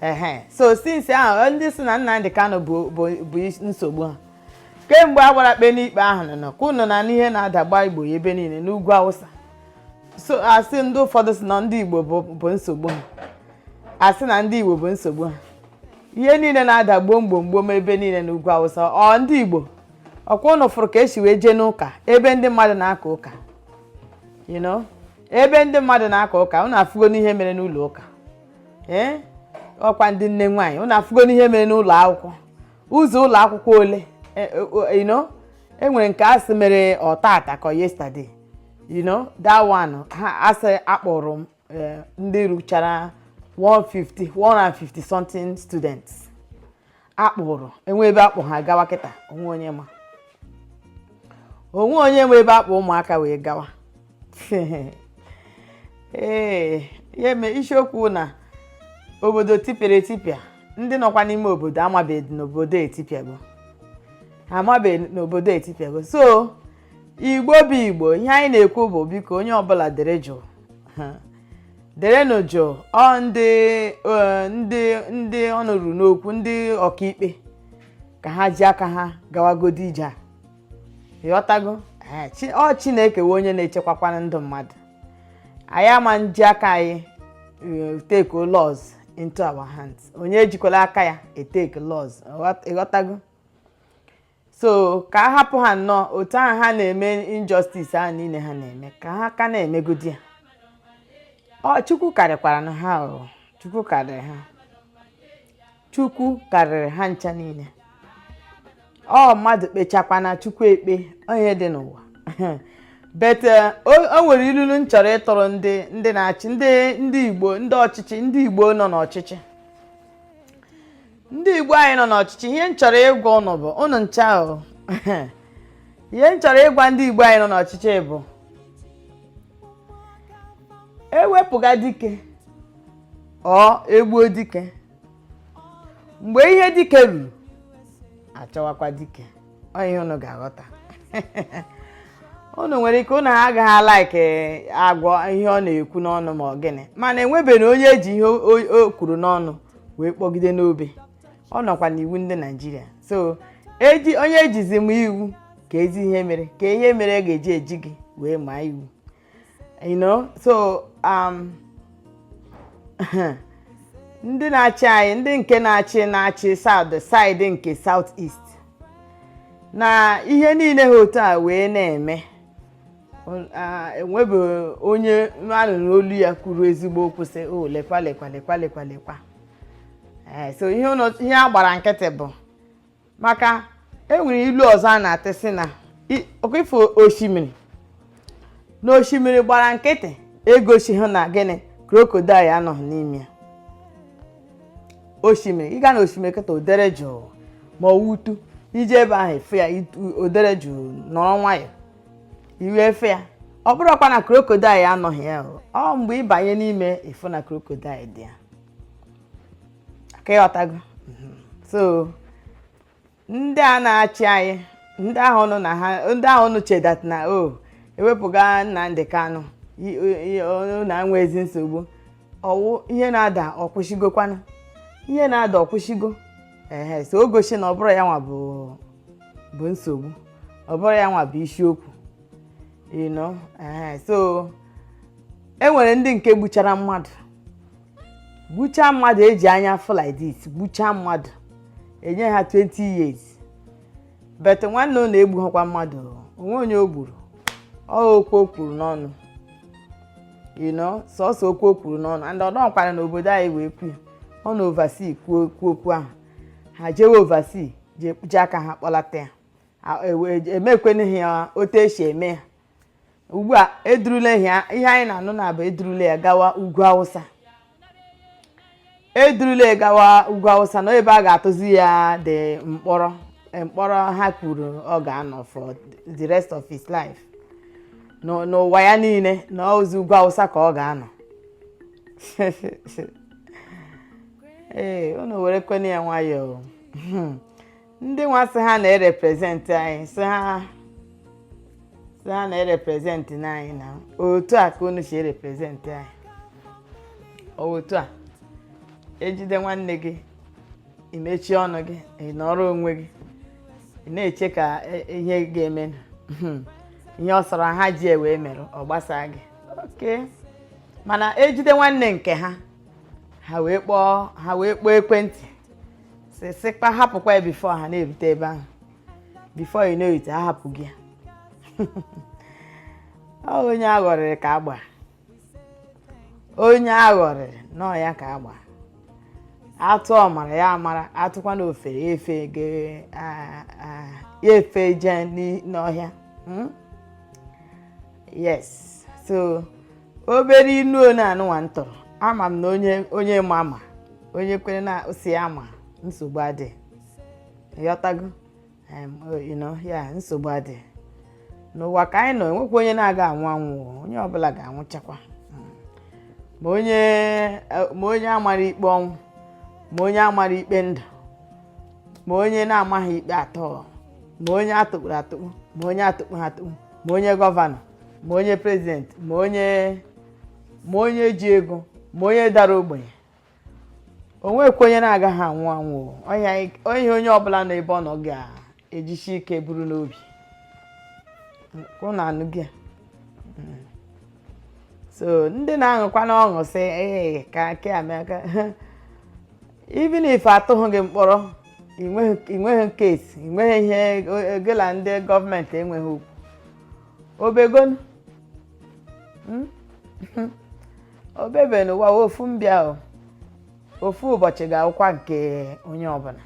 ehe so since ahụ ndị sị na Nnamdị Kanu bụ bụ- bụ is- nsogbu ha kemgbe a gbara kpe n'ikpe ahụ nọ nọ ka unu na-anụ ihe na-ada gbogbo ya ebe niile n'ugwu Awụsa so a sị ndị ụfọdụ sị na ndị Igbo bụ bụ nsogbu ha a sị na ndị Igbo bụ nsogbu ha ihe niile na-ada gbom gbom gbom ebe niile n'ugwu Awụsa ọ ndị Igbo ọkwa unu fụrụ ka e si wee jee n'ụka ebe ndị mmadụ na-aka ụka you know ebe ndị mmadụ na-aka ụka unu afụgonụ ihe mere n'ụlọ ụka ee ọkwa ndị nne nwaanyị ụnụ afụgonụ ihe mere n'ụlọ akwụkwọ ụzọ ụlọ akwụkwọ ole e, e, you know e nwere nke a sị mere ọ tata ka ọ yesterday you know that one a sị a kpụrụ e, ndị ruchara 150 150 something students a kpụrụ enwe ebe a kpụ ha gawa kịta o nwee onye ma o nwee onye ma ebe a kpụ ụmụaka wee gawa ee ya eme isiokwu na obodo tipịara etipịa ndị nọkwa n'ime obodo amabeghị na obodo etipịago amabeghị na obodo etipịago so igbo bụ igbo ihe anyị na-ekwu bụ biko onye ọbụla dere jụụ derenụ jụụ ọ ndị eh, ndị ndị ọnụ ruru n'okwu ndị ọkaikpe ka ha ji aka ha gawagodi ije a ịghọtago Eh, Chi- ọ chineke wụ onye na-echekwakwanụ ndụ mmadụ anyị ama nji aka anyị eh, take laws into our hands onye ejikwala aka ya etake laws Ịghọt- ịghọtago so ka a hapụ ha nnọọ otu ahụ ha na-eme injustice ahụ niile ha na-eme ka ha ka na-emegodi ya ọ chukwu karịkwaranụ ha ọ chukwu karịrị ha chukwu karịrị ha ncha niile ọ mmadụ kpechakwana chukwu ekpe ọ ihe dị n'ụwa but eh, o o nwere ilulu m chọrọ ịtụrụ ndị ndị na-achị ndị ndị igbo ndị ọchịchị ndị igbo nọ n'ọchịchị ndị igbo anyị nọ n'ọchịchị ihe m chọrọ ịgwa ụnụ bụ ụnụ ncha o ihe m chọrọ ịgwa ndị igbo anyị nọ n'ọchịchị bụ e wepụga dike or e gbuo dike mgbe ihe dike ruru achọwakwa dike ọ ihe ụnụ ga-aghọta ụnụ nwere ike ụnụ agaghị alike agwa ihe ọ na-ekwu n'ọnụ ma ọ gịnị mana enwebeghị onye e ji ihe o kwuru n'ọnụ wee kpọgide n'obe ọ nọkwa n'iwu ndị naịjirịa so eji onye e jizi maa iwu ka ezi ihe mere ka ihe mere e ga-eji eji gị wee maa iwu you know so um, ndị na-achị anyị ndị nke na-achị na-achị south side nke south east na ihe niile ha otu a wee na-eme enwebe onye anụrụ olu ya kwuru ezigbo okwu sị o oh, lekwa lekwa lekwa lekwa lekwa eh, so ihe a gbara nkịtị bụ maka enwere ilu ọzọ a na-atụ sị na ọkụ ị fụ osimiri na osimiri gbara nkịtị egosighị na gịnị crocodile anọghị n'ime ya osimiri ị ga na osimiri kịta o dere jụụ ma ọ wụ otu ị je ebe ahụ ị fụ ya o dere jụụ nọrọ nwayọọ i wee fe ya ọ bụrọkwa na crocodile anọghị ya ọ mgbe ị banye n'ime ị fụ na crocodile dị ya aka ị ghọtago mhm. so ndị a na-achị anyị ndị ahụ nọ na ha ndị ahụ na-eche that na o oh, ewepụga Nnamdi Kanu na enwezi nsogbu ọ wụ ihe na-ada ọ kwụsịgokwanụ ihe na-ada ọ kwụsịgo ehe so o gosi na ọ bụrọ ya nwa bụ bụ nsogbu ọ bụrọ ya nwa bụ isiokwu you know ehe so e nwere ndị nke gbuchara mmadụ gbuchaa mmadụ eji anya fụ like this gbuchaa mmadụ enye ha 20 years but nwanne unu egbughịkwa mmadụ onwe onye o gburu ọ okwu o kwuru n'ọnụ you know sọsọ okwu o kwuru n'ọnụ and ọ nọọkwara na obodo anyị wee kwu ya ọ na oversea kwuo okwu okwu ahụ ha jewe oversea jee kpuchi aka ha kpọlata ya emekwanụghị ya otu esi eme ya ugbu a edurula ihe ihe anyị na-anụ now bụ edurula ya gawa ugwu Awụsa edurula ya gawa ugwu Awụsa na ebe a ga-atụzi ya the mkpọrọ eh, mkpọrọ ha kwuru ọ ga-anọ for the rest of his life N'ụ- n'ụwa ya niile na ọọzị ugwu Awụsa ka ọ ga-anọ ee unu werekwanụ ya nwayọọ ndị nwa sị ha na-erepresent anyị sị ha sị ha na-erepresent anyị na otu a ka unu si erepresent anyị ọ wụ otu a ejide nwanne gị i mechie ọnụ gị ị nọrọ onwe gị ị na-eche ka e- ihe ga-eme ihe ọ sọrọ ha ji wee mere ọ gbasaa gị okay mana ejide nwanne nke ha ha wee kpọọ ha wee kpọọ ekwentị sịkpa hapụkwa ya before ha na-erute ebe ahụ before you know it ahapụgo ya onye aghọrịrị ka agba onye aghọrịrị na ọ ya ka agba atụ ọmara ya amara atụkwanụ ofeke ya efeje n'ọhịa hmm? yes so obere inu onye anụnwa m tụrụ ama m na onye ma ama onye kwere na si ya ma nsogbu adị ịghọtago ya nsogbu adị n'ụwa ka anyị nọ enwekwa onye na-aga anwụ anwụ onye ọbụla ga-anwụchakwa hmm. ma onye e, amara ikpe ọnwụ ma onye amara ikpe ndụ ma onye na-amaghị ikpe at all ma onye atụkpuru atụkpu ma onye atụkpughị atụkpu ma onye gọvanọ ma onye prezidenti ma onye ma onye ji ego ma onye dara ogbenye onwekwa onye na-agaghị anwụ anwụ onye onye ọbụla nọ ebe ọ nọ ga-ejisi ike buru n'obi na anụ gị hmm. so ndị na-aṅụkwanụ ọṅụ sị ee ka aka amaka even if atụghị gị mkpọrọ inweghị case inweghị ihe gị na ndị gọọmenti enweghị okwu obegonu hmm? obebe n'ụwa ofu mbịa ofu ụbọchị ga-awụkwa nke onye ọbụla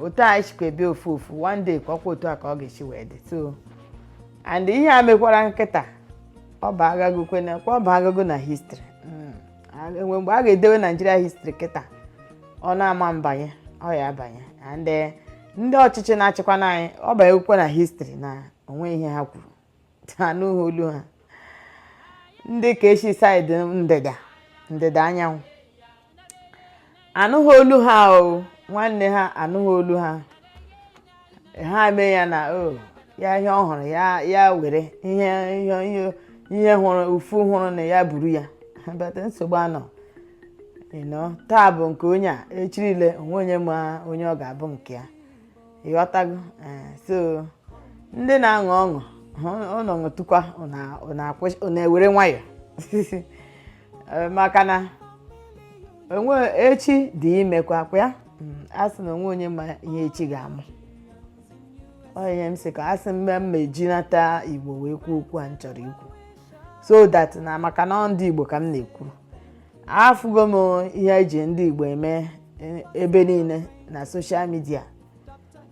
otu anyị sikwa bịa ofu ofu one day ka ọkwa otu a ka ọ ga-esi wee dị so and ihe a mekwara kịta ọ bụ agago kwena ọ bụ agago na history hmm. enwe mgbe a ga-edewe Nigeria history kịta ọ na-ama abanye ọ ya abanye and eh, ndị ọchịchị na-achịkwa anyị ọ banyekwa na history na onwe ihe ha kwuru anụghị olu ha ndị ke si side ndịda ndịda anyanwụ anụghị olu ha ọ nwanne ha anụghị olu ha ha mee ya na o ya ihe ọ hụrụ ya ya were ihe ihe ihe ihe hụrụ ụfụ hụrụ na ya buru ya but nsogbu anọ ịnọ taa bụ nke onye a echi niile onwe onye ma onye ọ ga-abụ nke ya ịghọtago eh, so ndị na-aṅụ ọṅụ ụnụ ṅụtụkwa ụnụ ewere nwayọ eh, maka na onwe echi dị imekwa ọkwa ya hmm, a sị na onwe onye ma ihe echi ga-amụ ihe m sị ka a sị mgbe m ma ejinata igbo wee kwuo okwu a m chọrọ ikwu so that na maka na ndị igbo ka m na-ekwuru afụgo m ihe eji ndị Igbo eme e, ebe niile na social media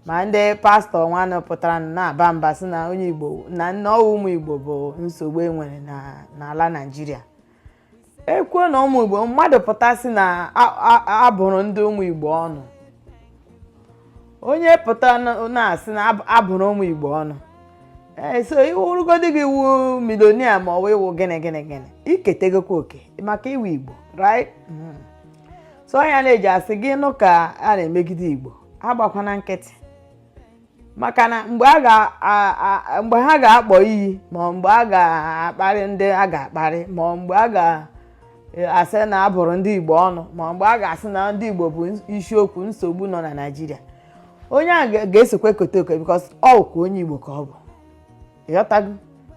ma ndị pastọ nwanụ pụtara na-aba mba sị na onye Igbo na na ọ wụ ụmụ Igbo bụ nsogbu enwere n'ala Naịjirịa ekwuo na ụmụ Igbo mmadụ pụta sị na abụrụ ndị ụmụ Igbo ọnụ onye pụta na-asị na abụrụ ụmụ igbo ọnụ ee so ị wụrụgodi gị ị wụ millionaire ma ọ wụ ị wụ gịnị gịnị gịnị i ketagokwa oke maka ị wụ igbo right hmm. so ọ ya m ji asị gị nụ ka a na-emegide igbo agbakwana nkịtị maka na mgbe ha ga-akpọ iyi ma mgbe a ga-akparị ndị a ga-akparị ma mgbe a ga e, asị na a bụrụ ndị Igbo ọnụ ma mgbe a ga-asị na ndị Igbo bụ isiokwu nsogbu nọ na Naịjirịa onye a ga-esokwa ekote okwu because ọ wụkwa onye Igbo ka ọ bụ ịghọtago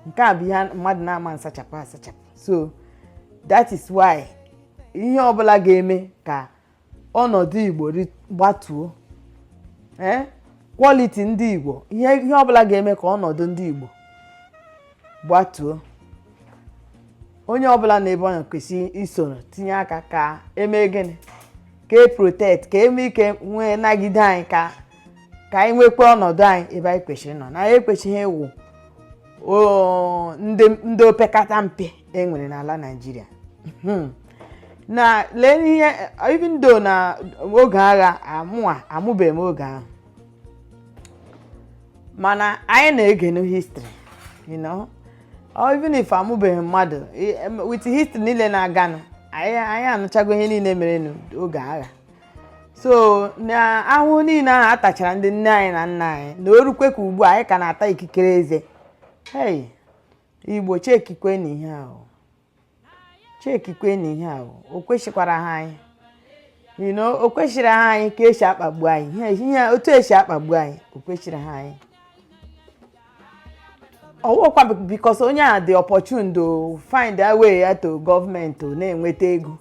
nke a bụ ihe mmadụ na-ama nsachapụ asachapụ so that is why ihe ọbụla ga-eme ka ọnọdụ igbo gbatuo ee quality ndị igbo ihe ihe ọbụla ga-eme ka ọnọdụ ndị igbo gbatuo onye ọbụla nọ ebe ọ nọ kwesịrị isoro tinye aka ka eme gịnị ka e protect ka e nwee ike nwee nagide anyị ka ka anyị nwekwa ọnọdụ anyị ebe anyị kwesịrị ịnọ na anyị ekwesịghị ịwụ ndị opekata mpe e nwere n'ala Naịjirịa hmm. na lee n'ihe even though na oge agha amụa amụbeghị m oge ahụ mana anyị na-egenu history you know or even if amụbeghị mmadụ i- em- with history niile na-aganụ anyị anyị anụchago ihe niile mere n'oge agha so na ahụhụ niile ahụ a tachara ndị nne anyị na nna anyị na o rukwe ka ugbu a anyị ka na-ata ikikere eze hey igbo chekikwenu ihe ahụ chekikwanụ ihe a o kwesịkwara ha anyị you know o kwesịrị ha anyị ka esi akpagbu anyị ihe ihe otu esi akpagbu anyị o kwesịrị ha anyị ọwụkwa because onye a dị opportune to find a way ya to government na-enweta ego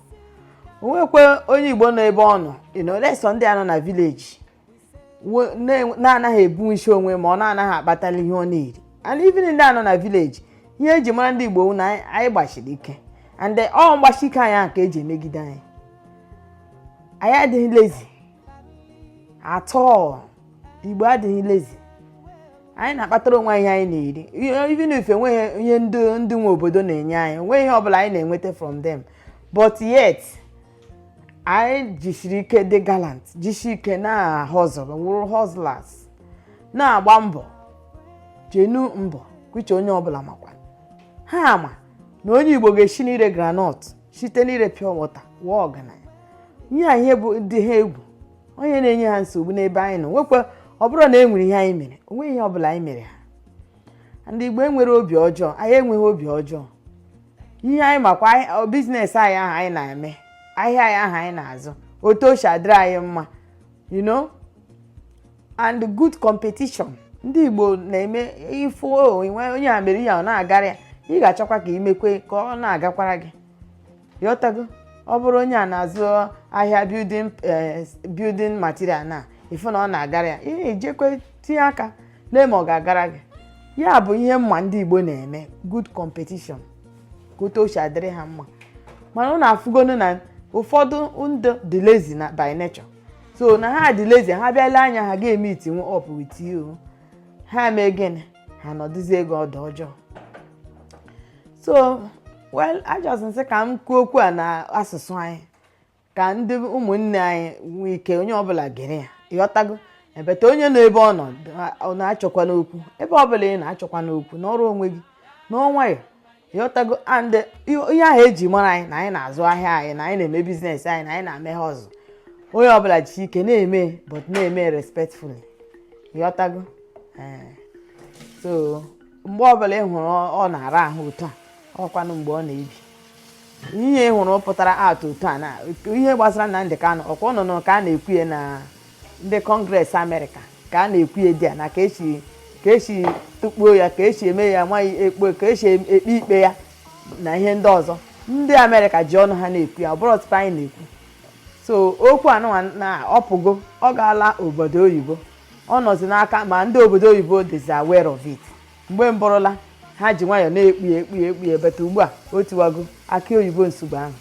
o nwekwa onye igbo nọ ebe ọ nọ unless ọ ndị a nọ na village na-anaghị ebu ishi onwe ma ọ na-anaghị akpatali ihe ọ na-eri and even ndị a nọ na village ihe eji mara ndị Igbo wụ na anyị gbasiri ike and ọ mgbasi ike anyị ahụ ka eji emegide anyị anyị adịghị lazy at all Igbo adịghị lazy anyị na-akpatara onwe anyị ihe anyị na-eri even if enweghị ihe ndị nwe obodo na-enye anyị onweghị ihe ọbụla anyị na-enweta from them but yet anyị jisiri ike dị gallant jisi ike na-ahustle wụrụ hustlers na-agba mbọ genuine mbọ which onye ọbụla makwa ha ama na onye igbo ga-esi n'ire groundnut site n'ire pure water wụọ ọgaranya ihe a ihe dị ha egwu ọ ihe na-enye ha nsogbu n'ebe anyị nọ nwekwa ọ bụrụ na e nwere ihe anyị mere o nweghị ihe ọbụla anyị mere ha ndị igbo enwere obi ọjọọ anyị enweghị obi ọjọọ ihe anyị makwa ahịa- business anyị ahụ anyị na-eme ahịa anyị ahụ anyị na-azụ otu o si adịrị anyị mma you know and good competition ndị igbo na-eme ị fụ onye a mere ya ọ na-agara ya ị ga-achọkwa ka imekwe ka ọ na-agakwara gị ịghọtago ọ bụrụ onye a na-azụ ahịa building eh, building material na ịfụ na ọ na-agara ya ị na-ejekwe tinye aka lee ma ọ ga-agara gị ya bụ ihe mma ndị Igbo na-eme good competition ka otu o si adịrị ha mma mana ụnụ afụgonu na ụfọdụ ndị dị lazy na by nature so na ha dị lazy ha bịa lee anya ha ga-emeetinwu up with you ha mee gịnị ha nọdụzi ego ọdụ ọjọọ so well I just sị ka m kwuo okwu a na asụsụ anyị ka ndị ụmụnne anyị nwee ike onye ọbụla gere ya ịghọtago but onye nọ ebe ọ nọ achọkwana okwu ebe ọbụla ị nọ achọkwana okwu nọrọ onwe gị nọọ nwayọọ ịghọtago and ihe ahụ eji mara anyị na anyị na-azụ ahịa anyị na anyị na-eme business anyị na anyị na-eme hustle onye ọbụla ji ike na-eme but na-eme respectfully ịghọtago ee so mgbe ọbụla ị hụrụ ọ na-ara ahụ otu a ọkwanụ mgbe ọ na-ebi ihe ị hụrụ pụtara out otu a na ihe gbasara Nnamdị Kanụ ọkwa unu nụ ka a na-ekwu ya na ndị Congress America ka a na-ekwu ya there na ka esi ka esi tụkpuo ya ka esi eme ya nwaanyị ekpo ka esi ekpe ikpe ya na ihe ndị ọzọ ndị Amerịka ji ọnụ ha na-ekwu ya ọ bụrọ ọtụtụ anyị na-ekwu so okwu anụnwa na ọ pụgo ọ gaala obodo oyibo ọ nọzi n'aka ma ndị obodo oyibo dịzi aware of it mgbe mbụrụla ha ji nwayọọ na-ekpu ya ekpu ya ekpu ya but ugbu a o tiwago akị oyibo nsogbu ahụ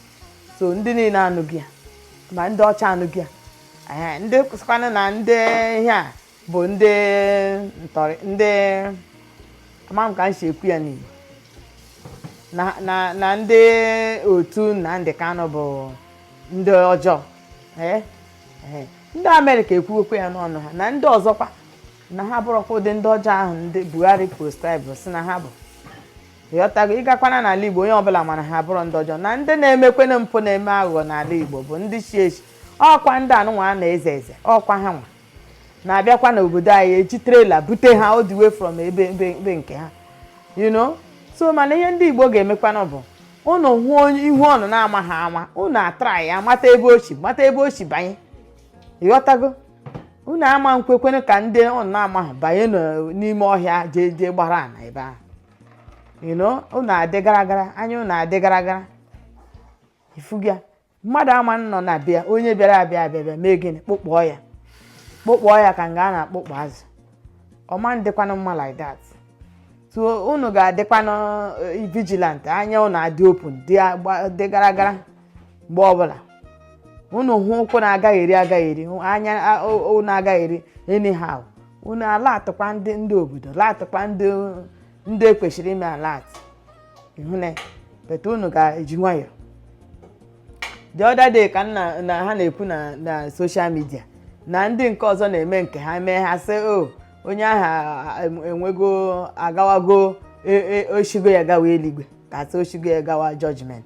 so ndị niile anụgo ya ma ndị ọcha anụgo ya Ee, ndị sịkwanụ na ndị ihe a bụ ndị ntọrị ndị ama m ka m si ekwu ya n'igbo na na na ndị otu Nnamdị Kanụ bụ ndị ọjọọ ee ee ndị Amerịka ekwuwekwa ya n'ọnụ ha na ndị ọzọkwa na ha abụrọkwa ụdị ndị ọjọọ ahụ ndị Buhari proscribe sị na ha bụ ịghọtago ị gakwanụ n'ala igbo onye ọbụla ma na ha abụrọ ndị ọjọọ na ndị na-emekwanụ mpụ na-eme aghụghọ n'ala igbo bụ ndị chị ehi ọkwa ndị anụnwa a na-eze eze ọkwa ha nwa na-abịakwa n'obodo anyị eji trela bute ha all the way from ebe ebe nke ha you know so mana ihe ndị igbo ga-emekwana bụ unu hụ onye ihu unu na-amahạ ama unu atraịa mata ebe o si mata ebe o si banye ịghọtago unu ama nkwekwanụ ka ndị unu na-amaghị banye n'o- n'ime ọhịa jee jee gbara ana ebe ahụ you know unu adị gara gara anya unu adị gara gara ị fụga mmadụ ama nọ na bịa onye bịara abịa abịa bịa mee gịnị kpụkpọọ ya kpụkpọọ ya ka nga a na-akpụkpọ azụ ọ ma ndịkwanụ mma like that so unu ga-adịkwanụ eh, vigilant anya unu adị open dị agba- dị gara gara mgbe ọbụla unu hụ ụkwụ na-agagharị agagharị hụ anya a- o- o na-agagharị anyhow unu alertịkwa ndị ndị obodo alertịkwa ndị ndị ekwesịrị ime alert ihụne but unu ga-eji nwayọọ the other day ka nna na ha na-ekwu na na social media na ndị nke ọzọ na-eme nke ha mee ha sị o onye ahụ anwụgo agawago e- e- o shigo ya gawa eluigwe ka sị o shigo ya gawa judgment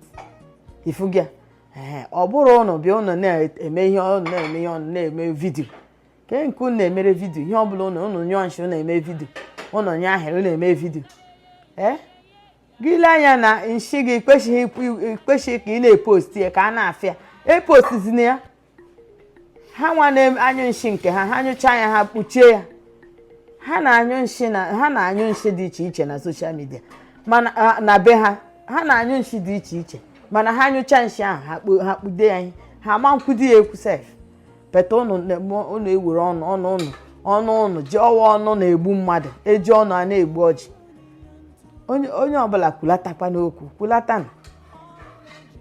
ị fụgo ya ee ọ bụrụ ụnụ bịa ụnụ na-eme ihe ọ na-eme ihe ọ na-eme video kee nke ụnụ na-emere video ihe ọbụla ụnụ ụnụ nyụọ nshi ụnụ eme video ụnụ nyụọ ahịrị ụnụ eme video ee gị lee anya na nshi gị i kweshighị ka ị na-epost ya ka a na-afụ ya epostizina ya ha nwa na-anyụ nshi nke ha ha nyụcha ya ha kpuchie ya ha na-anyụ nshi na ha na-anyụ nshi dị iche iche na social media mana na be ha ha na-anyụ nshi dị iche iche mana ha nyụcha nshi ahụ ha kpude ya ihe ha ama ekwudị ya ekwu sef but ụnụ ewere ọnụ ọnụ ụnụ ọnụ ụnụ ji ọwa ọnụ na-egbu mmadụ eji ọnụ a na-egbu ọjị onye ọbụla kwulatakwanụ okwu kwulatanụ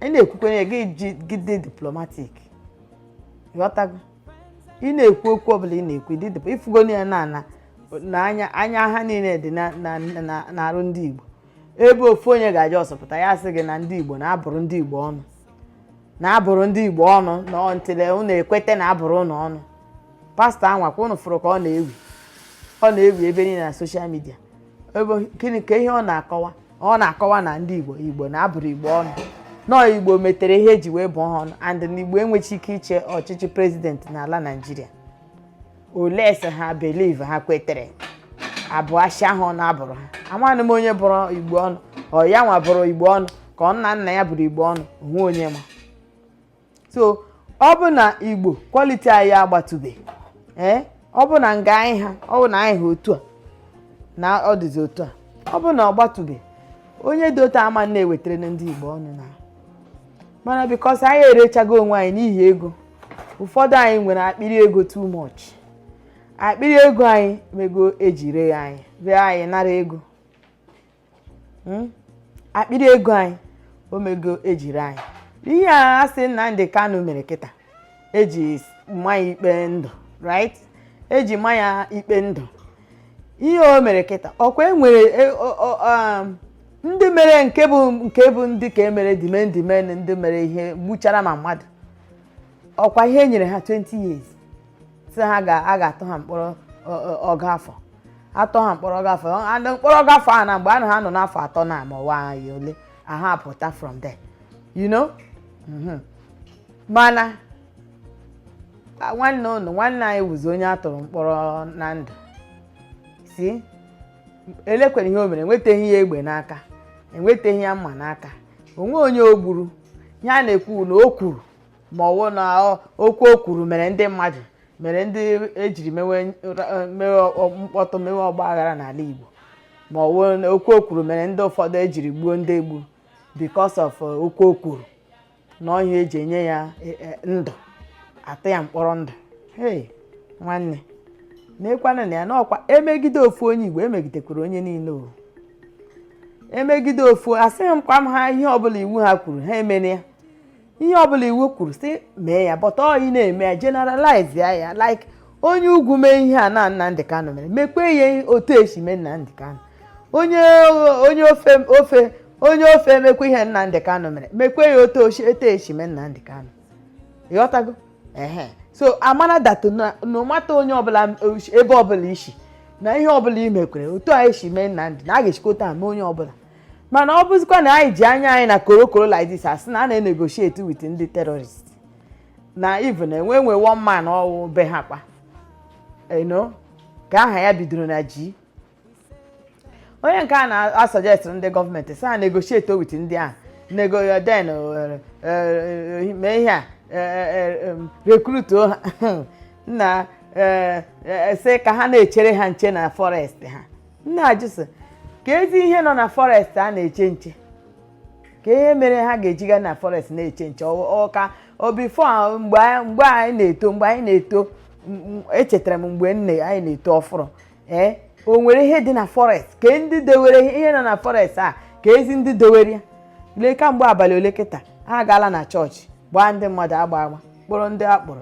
ị na-ekwukwanụ gị dị diplomatic ị ghọtago ị na-ekwu okwu ọbụla ị na-ekwu dị ị fụgo ya na ana na anya anya ha niile dị n'arụ ndị Igbo ebe ofu onye ga-eji ọsọ pụta ya sị gị na ndị Igbo na a bụrụ ndị Igbo ọnụ na a bụrụ ndị Igbo ọnụ na until ụnụ ekweta na a bụrụ ụnụ ọnụ pastor anwa kwa ụnụ fụrụ ka ọ na-ewi ọ na-ewi ebe niile na social media ebe gịnị ka ihe ọ na-akọwa ọ na-akọwa na ndị igbo igbo na a bụrụ igbo ọnụ na ọ igbo metere ihe eji wee bụọ ha ọnụ and na igbo enweghị ike ịchị ọchịchị president n'ala naijiria unless ha believe ha kwetere abụ ashị ahụ ọ na-abụrụ ha amaghị m onye bụrụ igbo ọnụ ọ ya nwa bụrụ igbo ọnụ ka ọ nna nna ya bụrụ igbo ọnụ o nwe onye ma so ọ bụ na igbo quality anyị agbatụbe ee ọ bụ na nga anyị ha ọ bụ na anyị ha otu a na ọ dịzi otu a ọ bụ na ọ gbatụbe onye dị otu a ma na-ewetara ndị igbo ọnụ na mana because anyị erechago onwe anyị n'ihi ego ụfọdụ anyị nwere akpịrị ego too much akpịrị ego anyị mego eji ree ya anyị ree anyị nara ego hmm? akpịrị ego anyị o mego ejiri anyị ihe a sị Nnamdi Kanu mere kịta eji ma ya ikpe ndụ right eji ma ya ikpe ndụ ihe o mere kịta ọkwa enwere e, um, ndị mere nke bụ nke bụ ndị ka emere dimendimen ndị mere ihe gbuchara ma mmadụ ọkwa ihe e nyere ha 20 years sị ha a ga-atụ ha mkpọrọ ọgụ afọ atụọ ha mkpọrọ ọgụ afọ mkpọrọ ọgụ afọ a na mgbe a na ha nọ n'afọ atọ na ma ọnwa ole a ha pụta from there you know mm-hmm. mana nwanne unu nwanne anyị wụzi onye a tụrụ mkpọrọ na ndụ sị elekwere ihe o mere enwetaghị ya egbe n'aka enwetaghị ya mma n'aka o nwe onye o gburu ihe a na-ekwu na o kwuru ma ọwụ na ọ- okwu o kwuru mere ndị mmadụ mere ndị ejiri mewe nra- mewe ọ- mkpọtụ mewe ọgba aghara n'ala Igbo ma ọwụ na okwu o kwuru mere ndị ụfọdụ ejiri gbuo ndị egbu because of uh, okwu o kwuru na ọ ihe eji enye ya eh, eh, ndụ atụ ya mkpọrọ ndụ hey nwanne na-ekwana na ya n'ọkwa emegide ofu onye Igbo emegidekwara onye niile o emegide ofu asịghị m kwa ha ihe ọbụla iwu ha kwuru ha emene ya ihe ọbụla iwu kwuru sị mee ya but ọ ị na-eme ya generalize ya like onye ugwu mee ihe a na Nnamdị Kanụ mere mekwe ya otu esi mee Nnamdị Kanụ onye onye ofe ofe onye ofe emekwa ihe Nnamdị Kanụ mere mekwe ya otu etu esi mee Nnamdị Kanụ ịghọtago ehe so amara that no matter onye ọbụla ebe ọbụla i si na ihe ọbụla i mekwere otu a esi mee Nnamdị na a ga-esikọta mee onye ọbụla mana ọ bụzikwa na anyị ji anya anyị na korokoro like this asị na a na-enegotiate with ndị terrorist na even enwe nwe one man ọwụ be ha kwanụ ka aha ya bidoro na G onye nke a na-asuggest ndị gọọmenti sị ha negotiate with ndị ahụ nego ya then eh, eh, mee ihe a eh, recruituo ha na sị ka ha na-echere ha nche na forest ha m na-ajụ sị keezi ihe nọ na forest a na-eche nche kee ihe mere ha ga-eji ga na forest na-eche nche ọkwa before mgbe anyị na-eto mgbe anyị na-eto echetara m mgbe anyị na-eto ọfụrụ ee o nwere ihe dị na forest kee ndị dewere ihe nọ na forest a keezi ndị dewere ya lee kamgbe abalị ole kịta ha agaala na chọọchị gbaa ndị mmadụ agba agba kpụrụ ndị akpụrụ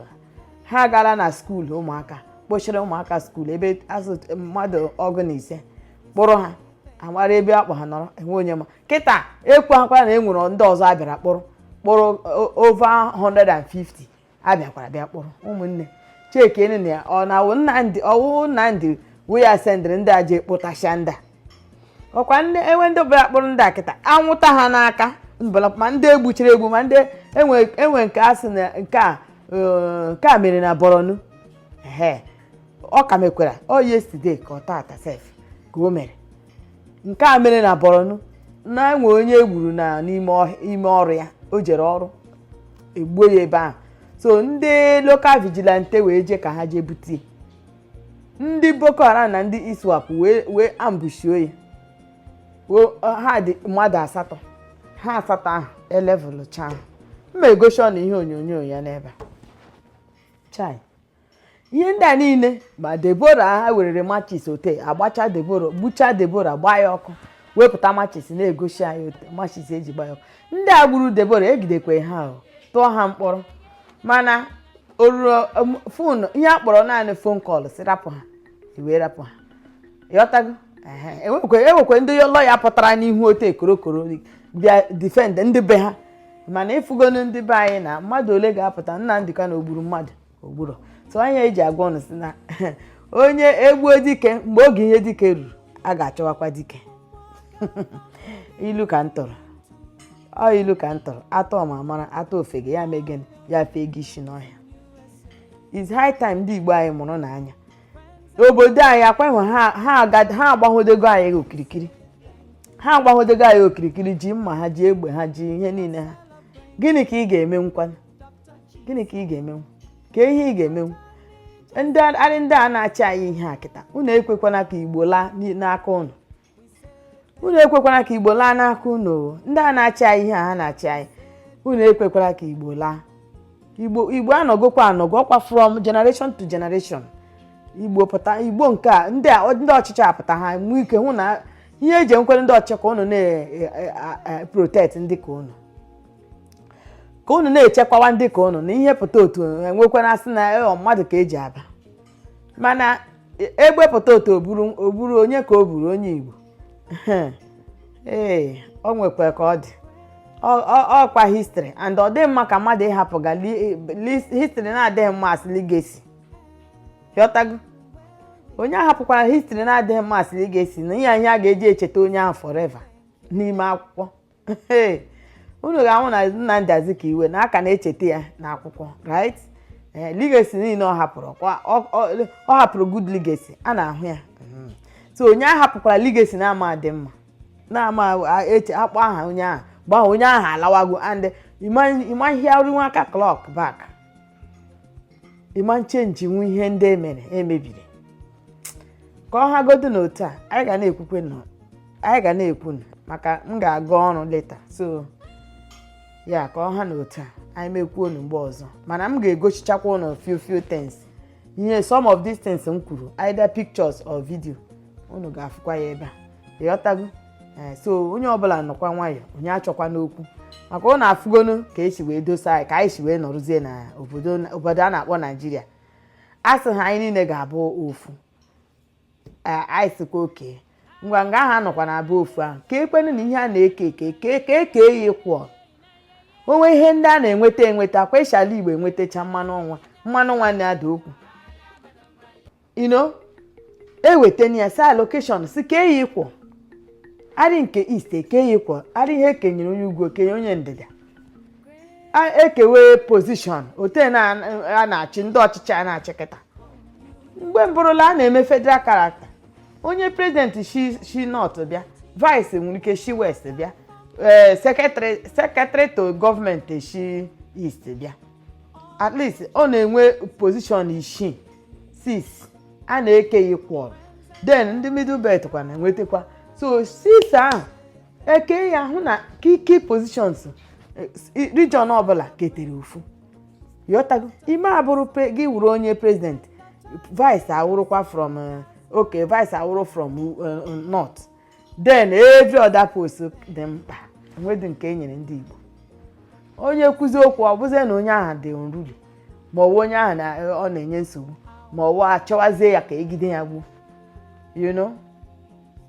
ha agaala na skuul ụmụaka kpochiri ụmụaka skuul ebe azụ mmadụ ọgụ na ise kpụrụ ha amara ebe akpọ ha nọrọ enwe onye ma kịta ekwu akwara na e nwere ndị ọzọ abịara kpụrụ kpụrụ over 150 abịakwara bịa kpụrụ ụmụnne chekenu na ọ na-awụ Nnamdị ọwụ Nnamdị wụ ya sendịrị ndị a ji kpụtasịa ndị a ọkwa ndị enwe ndị ọbụla kpụrụ ndị a kịta anwụta ha n'aka mbala ma ndị egbuchiri egbu ma ndị enwe enwe nke a sị na nke a eh, nke a mere na Borno ehe ọ ka mekwara ọ yesterday ka ọ taata sef ka o mere nke a mere na Borno na enwe onye egburu na n'ime ọhịa- ime ọrụ ya o jere ọrụ egbuo ya ebe ahụ so ndị local vigilante wee jee ka ha jee bute ya. ndị Boko Haram na ndị ISWAP wee wee ambushio ya Wee- ọ- ha dị mmadụ asatọ ha asatọ ahụ elevụlụ chaa m ma-egosi unu ihe onyonyo ya n'ebe a. chai ihe ndị a niile ma Deborah ha werere machis otu a gbachaa Deborah gbuchaa Deborah gbaa ya ọkụ wepụta machis na-egosi anyị otu a machis eji gbaa ya ọkụ ndị a gburu Deborah ejidekwe ha o tụọ ha mkpọrọ mana oruro phone ihe a kpọrọ naanị phone call sị rapụ ha e wee rapụ ha ịghọtago Ehe, enwekwe enwekwe ndị lawyer pụtara n'ihu otu a korokoro bịa defend ndị be ha mana ịfụgonu ndị be anyị na mmadụ ole ga-apụta Nnamdi Kanu o gburu mmadụ o gburo so ọ ya eji agwa unu sị na onye egbuo dike mgbe oge ihe dike ruru a ga-achọwakwa dike ilu ka m tụrụ ọ ilu ka m tụrụ a tụọ ọmara ọ mara a tụọ ofeke ya mee gịnị ya fega isi n'ọhịa it's high time ndị igbo anyị mụrụnụ anya obodo anyị ọkwa ha agbahodego anyị okirikiri ha agbahodego anyị okirikiri ji mma ha ji egbe ha ji ihe niile ha gịnị ka ị ga-emenwukwanụ gịnị ka ị ga-emenwu kee ihe ị ga-emenwu ndị anyị ndị a na-achị anyị ihe a kịta unu ekwekwana ka igbo laa n'i- n'aka unu unu ekwekwana ka igbo laa n'aka unu o. ndị a na-achị anyị ihe a ha na-achị anyị unu ekwekwara ka igbo laa igbo igbo anọgokwa anọgo ọkwa from generation to generation igbo pụta igbo nke a ndị a ndị ọchịchị apụta ha nwee ike hụ na ihe eji enwekwere ndị ọchịchị ka unu na-protect ndị ka unu ka unu na-echekwawa ndị ka unu na ihe pụta otu enwekwara asị na ọ mmadụ ka eji aba mana egbe pụta otu o buru o buru onye ka o buru onye Igbo ee o nwekwa ka ọ dị ọkwa history and ọ dịghị mma ka mmadụ ịhapụga history na-adịghị mma as legacy ịghọtago onye ahapụkwara history na-adịghị mma as legacy na ihe anyị a ga-eji echeta onye ahụ forever n'ime akwụkwọ unu ga-ahụ na Nnamdi Azikiwe na a ka na-echeta ya n'akwụkwọ right ee legacy niile ọ hapụrụ kwa- ọ- ọ ọ hapụrụ good legacy a na-ahụ ya so onye ahapụkwara legacy na-ama adị mma na-ama a- eche akpọ aha onye ahụ mgbe onye ahụ alawago and ị ma-ahịarịnwu aka clock back ịma change nwu ihe ndị emere emebiri ka ọ hagodu na otu a anyị ga na-ekwukwenụ anyị ga na-ekwunụ maka m ga-aga ọrụ later so ya ka ọ ha na otu a anyị mekwuo unu mgbe ọzọ mana m ga-egochichakwa unu few few things ihe some of these things m kwuru either pictures or video unu ga-afụkwa ya ebe a ịghọtago eh, so onye ọbụla nọkwa nwayọ onye achọkwana okwu maka unu afụgonu ka esi wee dosa anyị ka anyị si wee nọrụzie na obodo a na-akpọ naijiria a sị ha anyị niile ga-abụ ofu Ee, anyị sịkwa okay ngwa nga ahụ anọkwa na abụ ofu ahụ ka ekwenu na ihe a na-eke eke ka eke eke ya equal o nwee ihe ndị a na-enweta enweta kwa e shi ala Igbo enwetacha mmanụ nwa mmanụ nwa na-ada okwu you know ewetana ya as allocation sị kee ya equally nke East e kee ya equally ihe ekenyere onye ugwu kenye onye ndịda a- ekewe position otu a na- a na-achị ndị ọchịchị a na-achị kịta mgbe mbụrụla a na-eme federal character onye president shi shi north bịa vice nwere ike shi west bịa ee secretary secretary to government shi east bịa at least ọ na-enwe position isii six a na-eke ya equal then ndị middle belt kwa na-enwetakwa so six ahụ eke ya hụ na key key positions eh, s- i- region ọbụla ketere ofu ịghọtago ime abụrụ pre- gị wụrụ onye president vice awụrụkwa from eh, okay vice awụrụ from eh, north then every other post dị mkpa enwedị nke e nyere ndị igbo onye kwuzie okwu ọ bụzie na onye ahụ dị unruly ma ọwụ onye ahụ na- ọ na-enye nsogbu ma ọwụ achọwazie ya ka egide ya gbuo you know